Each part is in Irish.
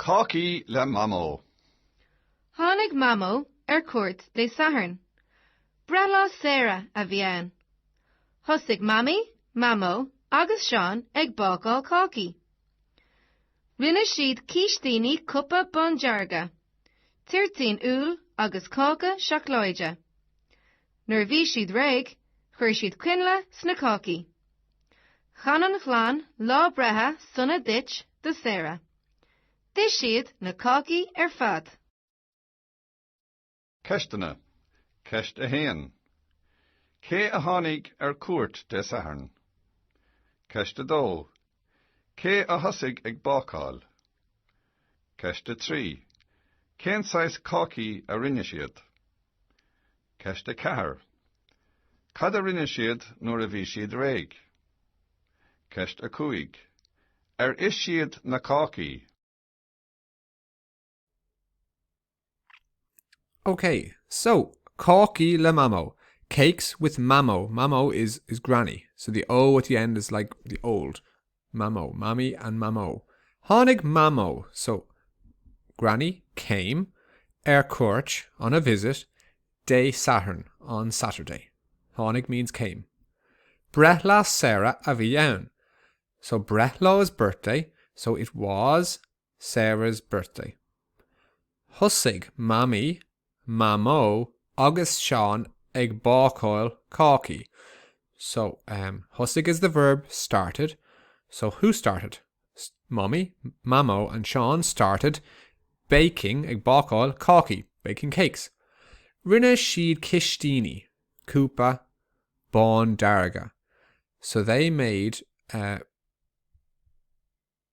Cácaí le Mamó. Tháinig Mamó ar cuairt Dé Sathairn. Breithlá Sarah a bhí ann. Thosaigh Mamaí, Mamó agus Seán ag bácáil cácaí. Rinne siad cístíní cupa bándearga, toirtín úll agus cáca seacláide. Nuair a bhí siad réidh, chuir siad coinnle sna cácaí. Chan an chlann lá breithe sona duit do Sarah. D'ith siad na cácaí ar fad. Ceisteanna, Ceist 1. Cé a tháinig ar cuairt Dé Sathairn? Ceist 2. Cé a thosaigh ag bácáil? Ceist 3. Cén saghas cácaí a rinne siad? Ceist 4. Cad a rinne siad nuair a bhí siad réidh? Ceist 5. Ar ith siad na cácaí? OK, so, cácaí le mamó, cakes with mamó, mamó is, is granny, so the O at the end is like the old, mamó, mamaí and mamó. Tháinig mamó, so, granny, came, ar cuairt, on a visit, Dé Sathairn, on Saturday. Tháinig means came. Breithlá Sarah a bhí ann, so breithlá is birthday, so it was Sarah's birthday. Thosaigh Mamaí, Mamó agus Seán ag bácáil cácaí. So, em, thosaigh is the verb started, so who started? Mamaí, Mamó and Seán started baking, ag bácáil cácaí, baking cakes. Rinne siad cístíní, cupa bándearga. So they made, eh,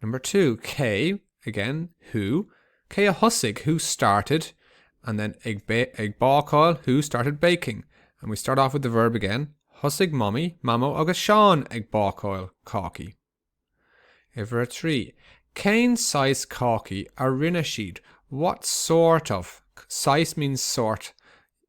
Number two, cé, again, who, cé a thosaigh, who started, and then ag bácáil, who started baking. And we start off with the verb again, thosaigh Mamaí, Mamó agus Seán ag bácáil cácaí. Uimhir a trí, cén saghas cácaí a rinne siad, what sort of, saghas means sort,